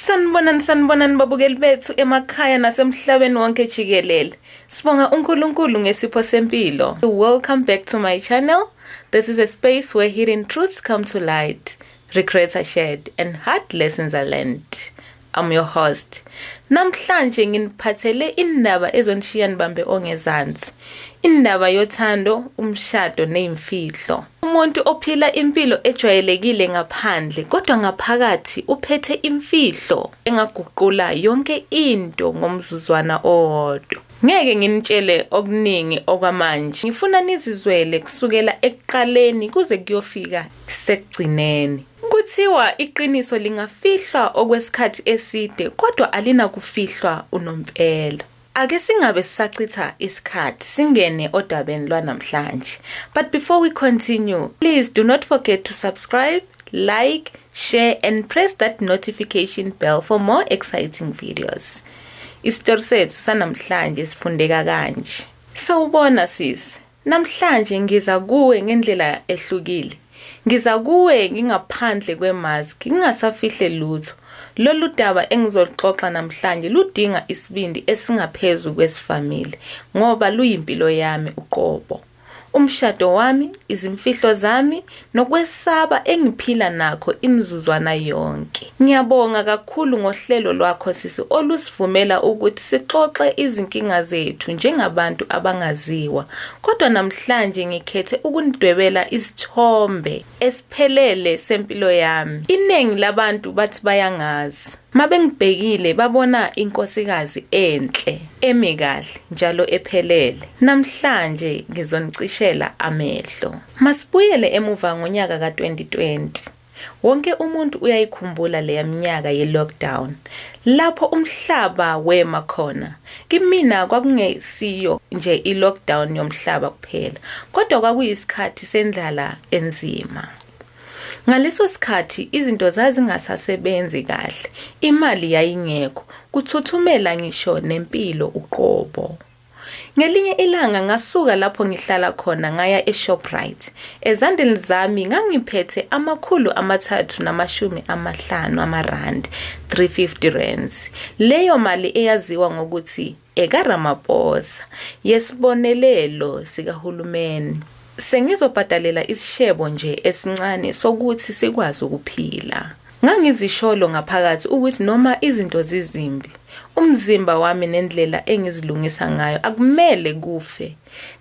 Sanibonani sanibonani babukeli bethu emakhaya nasemhlabeni wonke jikelele. Sibonga uNkulunkulu ngesipho sempilo. Welcome back to my channel. This is a space where hidden truths come to light, regrets are shared and hard lessons are learned. I'm your host. Namhlanje nginiphathele indaba ezonishiya nibambe ongezansi. Indaba yothando, umshado nezimfihlo. Umuntu ophila impilo ejwayelekile ngaphandle kodwa ngaphakathi uphethe imfihlo engaguqula yonke into ngomzuzwana owodwa. Ngeke nginitshele okuningi okwamanje. Ngifuna nizizwele kusukela ekuqaleni kuze kuyofika sekugcineni. Kuthiwa iqiniso lingafihlwa okwesikhathi eside kodwa alinakufihlwa unompela. Ake singabe sisachitha isikhathi singene odabeni lwanamhlanje. But before we continue, please do not forget to subscribe, like, share and press that notification bell for more exciting videos. Isitori sethu sanamhlanje sifundeka kanje. Sawubona sisi. Namhlanje ngiza kuwe ngendlela ehlukile. Ngiza kuwe ngingaphandle kwemaski, ngingasafihle lutho. Lolu daba engizoluxoxa namhlanje ludinga isibindi esingaphezu kwesivamile ngoba luyimpilo yami uqobo. Umshado wami, izimfihlo zami nokwesaba engiphila nakho imizuzwana yonke. Ngiyabonga kakhulu ngohlelo lwakho sisi olusivumela ukuthi sixoxe izinkinga zethu njengabantu abangaziwa. Kodwa namhlanje ngikhethe ukunidwebela isithombe esiphelele sempilo yami. Iningi labantu bathi bayangazi. Mabengibhekile babona inkosikazi enhle, emi kahle njalo ephelele. Namhlanje ngizonicishela amehlo. Masibuyele emuva ngonyaka ka-2020. Wonke umuntu uyayikhumbula leya minyaka ye-lockdown lapho umhlaba wema khona. Kimina kwakungesiyo nje i-lockdown yomhlaba kuphela kodwa kwakuyisikhathi sendlala enzima. Ngaleso sikhathi izinto zazingasasebenzi kahle, imali yayingekho, kuthuthumela ngisho nempilo uqobo. Ngelinye ilanga ngasuka lapho ngihlala khona ngaya eShoprite. Ezandleni zami ngangiphethe amakhulu amathathu namashumi amahlanu amarandi, 350 rands. Leyo mali eyaziwa ngokuthi ekaRamaphosa yesibonelelo sikahulumeni. Sengizobhadalela isishebo nje esincane sokuthi sikwazi ukuphila. Ngangizisholo ngaphakathi ukuthi noma izinto zizimbi, umzimba wami nendlela engizilungisa ngayo akumele kufe.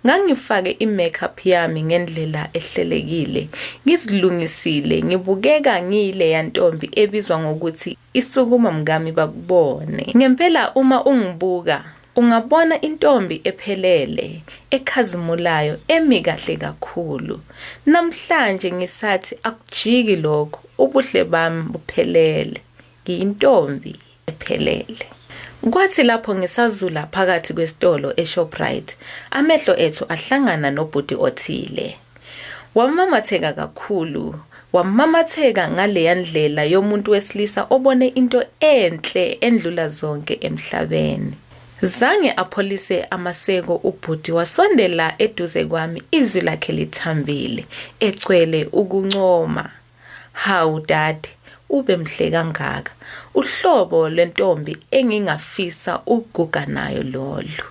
Ngangifake i-makeup yami ngendlela ehlelekile, ngizilungisile, ngibukeka ngiyileya ntombi ebizwa ngokuthi isukuma mkami bakubone. Ngempela uma ungibuka, ungabona intombi ephelele, ekhazimulayo, emi kahle kakhulu. Namhlanje ngisathi akujiki lokho. Ubuhle bami buphelele, ngiyintombi ephelele. Kwathi lapho ngisazula phakathi kwesitolo eShoprite, amehlo ethu ahlangana nobhuti othile. Wamamatheka kakhulu, wamamatheka ngaleya ndlela yomuntu wesilisa obone into enhle endlula zonke emhlabeni. Zange apholise amaseko ubhuti wasondela eduze kwami izwi lakhe lithambile egcwele ukuncoma. Hawu dade ube mhle kangaka. Uhlobo lwentombi engingafisa ukuguga nayo lolu.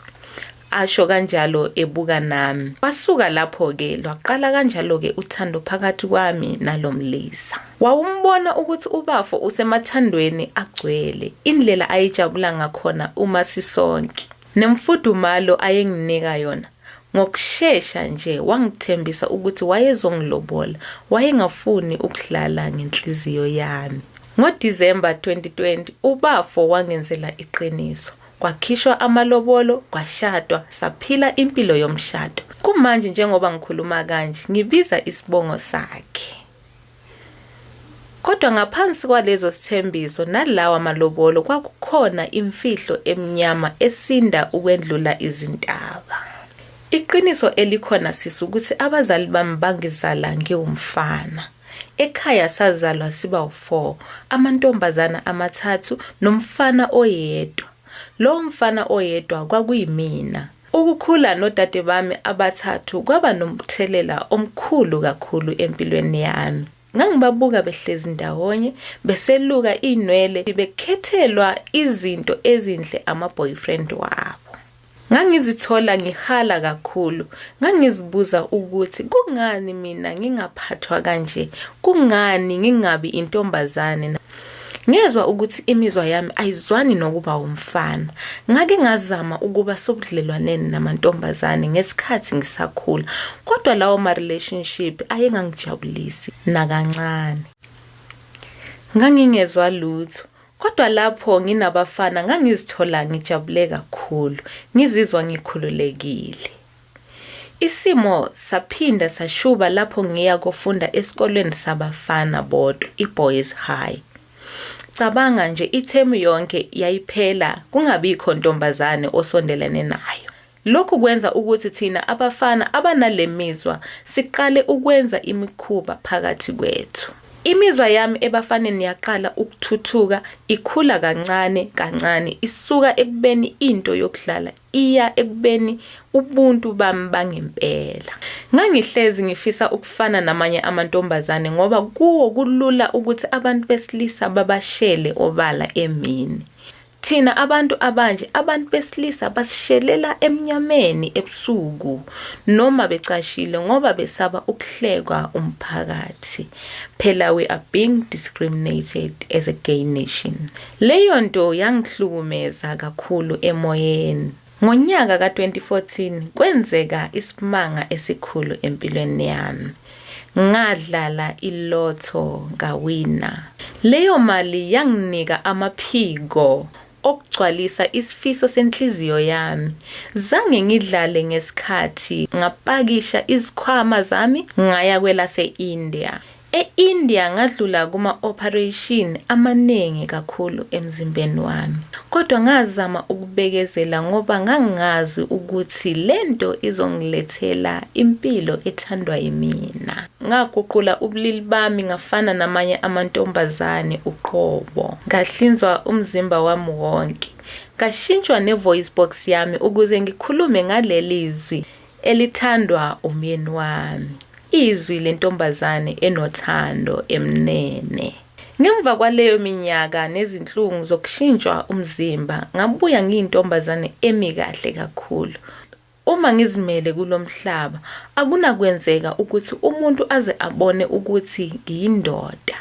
Asho kanjalo ebuka nami. Kwasuka lapho ke lwaqala kanjalo ke uthando phakathi kwami nalomlisa. Wawumbona ukuthi ubafo usemathandweni agcwele, indlela ayejabula ngakhona uma sisonke, nemfudumalo ayenginika yona. Ngokushesha nje wangithembisa ukuthi wayezongilobola, wayengafuni ukudlala ngenhliziyo yami. NgoDisemba 2020 ubafo wangenzela iqiniso, kwakhishwa amalobolo, kwashadwa, saphila impilo yomshado. Kumanje njengoba ngikhuluma kanje ngibiza isibongo sakhe. Kodwa ngaphansi kwalezo sithembiso nalawa malobolo kwakukhona imfihlo emnyama esinda ukwendlula izintaba. Iqiniso elikhona sisi ukuthi abazali bami bangizala ngiwumfana. Ekhaya sazalwa siba u-4, amantombazana amathathu nomfana oyedwa. Lowo mfana oyedwa kwakuyimina. Ukukhula nodade bami abathathu kwaba nomthelela omkhulu kakhulu empilweni yami. Ngangibabuka behlezi ndawonye, beseluka inwele, bekhethelwa izinto ezinhle ama-boyfriend wabo. Ngangizithola ngihala kakhulu, ngangizibuza ukuthi kungani mina ngingaphathwa kanje, kungani ngingabi intombazane. Ngezwa ukuthi imizwa yami ayizwani nokuba wumfana. Ngake ngazama ukuba sobudlelwaneni namantombazane ngesikhathi ngisakhula, kodwa lawo ma-relationship ayengangijabulisi nakancane. Ngangingezwa lutho, kodwa lapho nginabafana ngangizithola ngijabule kakhulu, ngizizwa ngikhululekile. Isimo saphinda sashuba lapho ngiya kofunda esikoleni sabafana bodwa, iBoys High. Cabanga nje ithemu yonke yayiphela kungabikho ntombazane osondelene nayo. Lokhu kwenza ukuthi thina abafana abanale mizwa siqale ukwenza imikhuba phakathi kwethu. Imizwa yami ebafaneni yaqala ukuthuthuka ikhula kancane kancane isuka ekubeni into yokudlala iya ekubeni ubuntu bami bangempela. Ngangihlezi ngifisa ukufana namanye amantombazane ngoba kuwo kulula ukuthi abantu besilisa babashele obala emini. Thina abantu abanje abantu besilisa basishelela emnyameni ebusuku noma becashile ngoba besaba ukuhlekwa umphakathi. Phela we are being discriminated as a gay nation. Leyo nto yangihlukumeza kakhulu emoyeni. Ngonyaka ka-2014 kwenzeka isimanga esikhulu empilweni yami. Ngadlala i-lotto ngawina. Leyo mali yanginika amaphiko okugcwalisa isifiso senhliziyo yami. Zange ngidlale ngesikhathi ngapakisha izikhwama zami ngaya kwelase-India. E-India ngadlula kuma-ophareyshini amaningi kakhulu emzimbeni wami. Kodwa ngazama ukubekezela ngoba ngangazi ukuthi le nto izongilethela impilo ethandwa yimina. Ngaguqula ubulili bami ngafana namanye amantombazane uqobo. Ngahlinzwa umzimba wami wonke. Ngashintshwa ne-voice box yami ukuze ngikhulume ngaleli zwi Elithandwa umyeni wami. Izwi lentombazane enothando emnene. Ngemva kwaleyo minyaka nezinhlungu zokushintshwa umzimba, ngabuya ngiyintombazane emi kahle kakhulu. Uma ngizimele kulo mhlaba, akunakwenzeka ukuthi umuntu aze abone ukuthi ngiyindoda.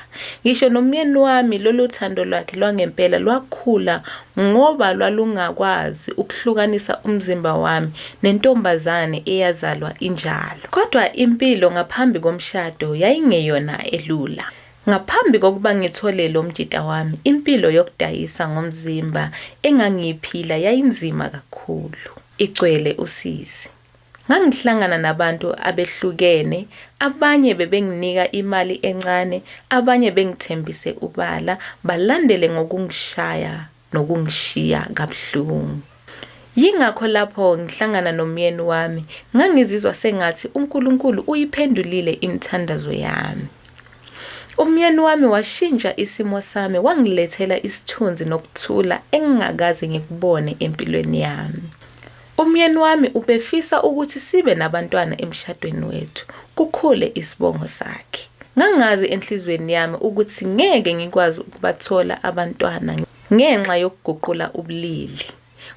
Ngisho nomyeni wami lolu thando lwakhe lwangempela lwakhula Ngoba lwalungakwazi ukuhlukanisa umzimba wami nentombazane eyazalwa injalo. Kodwa impilo ngaphambi komshado yayingeyona elula. Ngaphambi kokuba ngithole lo mjita wami, impilo yokudayisa ngomzimba engangiyiphila yayinzima kakhulu. Igcwele usizi. Ngangihlangana nabantu abehlukene, abanye bebenginika imali encane, abanye bengithembise ubala, balandele ngokungishaya nokungishiya kabuhlungu. Yingakho lapho ngihlangana nomyeni wami, ngangizizwa sengathi uNkulunkulu uyiphendulile imithandazo yami. Umyeni wami washintsha isimo sami, wangilethela isithunzi nokuthula engingakaze ngikubone empilweni yami. Umyeni wami ubefisa ukuthi sibe nabantwana emshadweni wethu, kukhule isibongo sakhe. Ngangazi enhliziyweni yami ukuthi ngeke ngikwazi ukubathola abantwana ngenxa yokuguqula ubulili.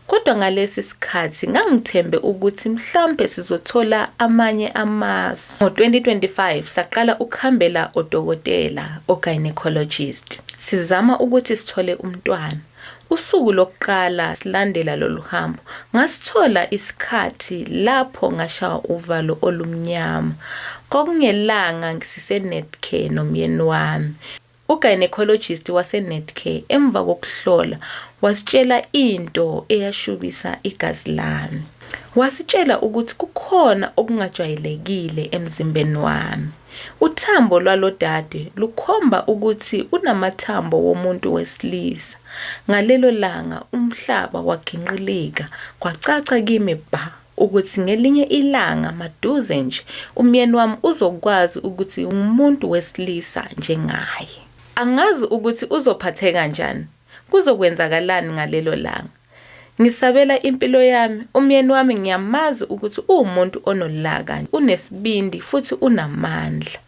Kodwa ngalesi sikhathi ngangithembe ukuthi mhlawumbe sizothola amanye amasu. Ngo-2025 saqala ukuhambela odokotela, o-gynecologist, sizama ukuthi sithole umntwana. Usuku lokuqala silandela lolu hambo, ngasithola isikhathi lapho ngashawa uvalo olumnyama. Kwakungelanga siseNetcare nomyeni wami. U-gynecologist waseNetcare emva kokuhlola wasitshela into eyashubisa igazi lami. Wasitshela ukuthi kukhona okungajwayelekile emzimbeni wami. Uthambo lwalo dade lukhomba ukuthi unamathambo womuntu wesilisa. Ngalelo langa umhlaba waginqilika, kwacaca kimi bha ukuthi ngelinye ilanga maduze nje umyeni wami uzokwazi ukuthi ngumuntu wesilisa njengaye. Angazi ukuthi uzophatheka njani, kuzokwenzakalani ngalelo langa. Ngisabela impilo yami, umyeni wami ngiyamazi ukuthi uwumuntu onolaka, unesibindi futhi unamandla.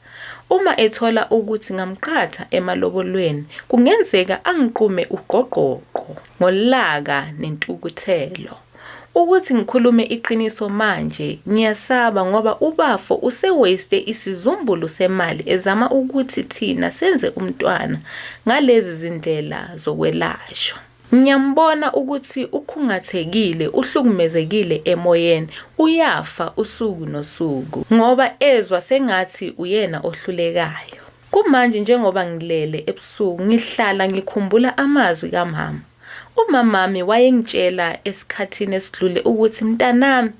Uma ethola ukuthi ngamqhatha emalobolweni kungenzeka angiqume ugqogqogqo ngolaka nentukuthelo. Ukuthi ngikhulume iqiniso manje ngiyasaba ngoba ubafo usewaste isizumbulu semali ezama ukuthi thina senze umntwana ngalezi zindlela zokwelashwa. Ngiyambona ukuthi ukhungathekile, uhlukumezekile emoyeni, uyafa usuku nosuku ngoba ezwa sengathi uyena ohlulekayo. Kumanje njengoba ngilele ebusuku ngihlala ngikhumbula amazwi kamama. Umamami wayengitshela esikhathini esidlule ukuthi mntanami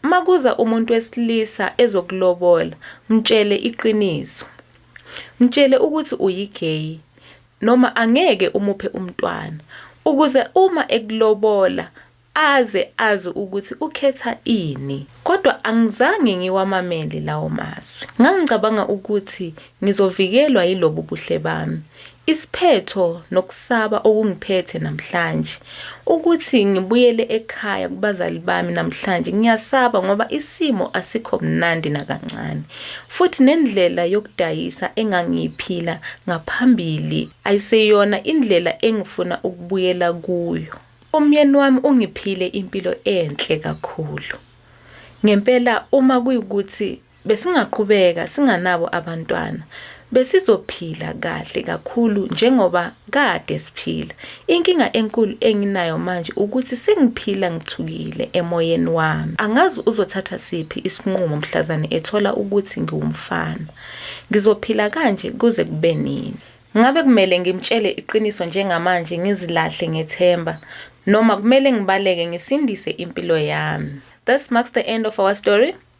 makuza umuntu wesilisa ezokulobola mtshele iqiniso. Mtshele ukuthi uyi-gay. noma angeke umuphe umntwana ukuze uma ekulobola aze azi ukuthi ukhetha ini. Kodwa angizange ngiwamamele lawo mazwi. Ngangicabanga ukuthi ngizovikelwa yilobu buhle bami. Isiphetho nokusaba okungiphethe namhlanje Ukuthi ngibuyele ekhaya kubazali bami namhlanje ngiyasaba ngoba isimo asikho mnandi nakancane. Futhi nendlela yokudayisa engangiyiphila ngaphambili ayiseyona indlela engifuna ukubuyela kuyo. Umyeni wami ungiphile impilo enhle kakhulu. Ngempela uma kuyukuthi Besingaqhubeka singanabo abantwana, besizophila kahle kakhulu njengoba kade siphila. Inkinga enkulu enginayo manje ukuthi sengiphila ngithukile emoyeni wami. Angazi uzothatha siphi isinqumo mhlazane ethola ukuthi ngiwumfana. Ngizophila kanje kuze kube nini? Ngabe kumele ngimtshele iqiniso njengamanje ngizilahle ngethemba noma kumele ngibaleke ngisindise impilo yami? This marks the end of our story.